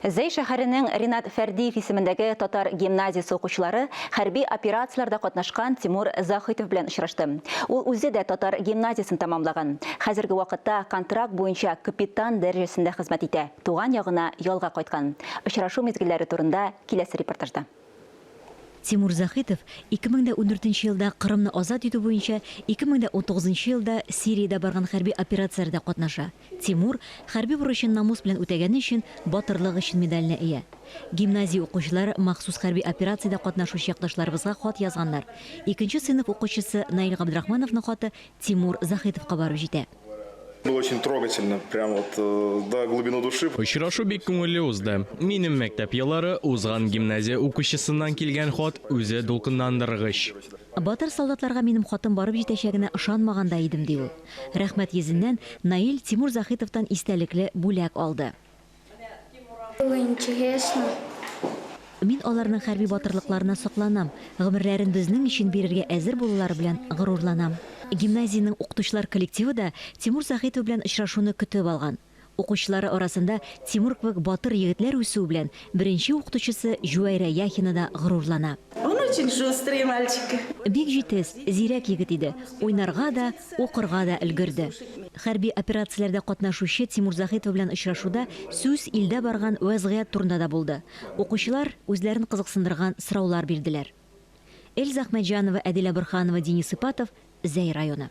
Зәй шәһәренең Ринат Фәрдиев исемендәге татар гимназиясе укучылары хәрби операцияләрдә катнашкан Тимур Заһитов белән очрашты. Ул үзе дә татар гимназиясен тәмамлаган. Хәзерге вакытта контракт буенча капитан дәрәҗәсендә хезмәт итә, туган ягына ялга кайткан. Очрашу мизгелләре турында киләсе репортажда. Тимур Заһитов 2014 нче елда Кырымны азат итү буенча 2019 нчы елда Сириядә барган хәрби операцияләрдә катнаша. Тимур, хәрби бурычын намус белән үтәгәне өчен Батырлык өчен медаленә ия. Гимназия укучылары махсус хәрби операциядә катнашучы якташларыбызга хат язганнар. Икенче сыйныф укучысы Наил Габдрахмановның хаты Тимур Заһитовка барып җитә. Было очень трогательно, прям вот э, до глубины души. Очрашу бик күңелле узды. Минем мәктәп еллары узган гимназия укучысыннан килгән хат үзе дулкынландыргыч. Батыр солдатларга минем хатым барып җитәчәгенә ышанмаган да идем, ди ул. Рәхмәт йөзеннән Наил Тимур Захитовтан истәлекле бүләк алды. Было интересно. Мин аларның хәрби батырлыкларына сокланам, гомерләрен безнең өчен бирергә әзер булулары белән горурланам. Гимназиянең укытучылар коллективы да Тимур Сәхитов белән очрашуны көтеп алган. Укучылары арасында Тимур кебек батыр егетләр үсүе белән беренче укытучысы Җүәйрә Яхина да горурлана. Он очень шустрый мальчик. Бик җитез, зирәк егет иде. Уйнарга да, укырга да өлгерде. Хәрби операцияләрдә катнашучы Тимур Заһитов белән очрашуда сүз илдә барган вәзгыять турында да булды. Укучылар үзләрен кызыксындырган сораулар бирделәр. Эльза Әхмәтҗанова, Әдилә Борһанова, Денис Ипатов, Зәй районы.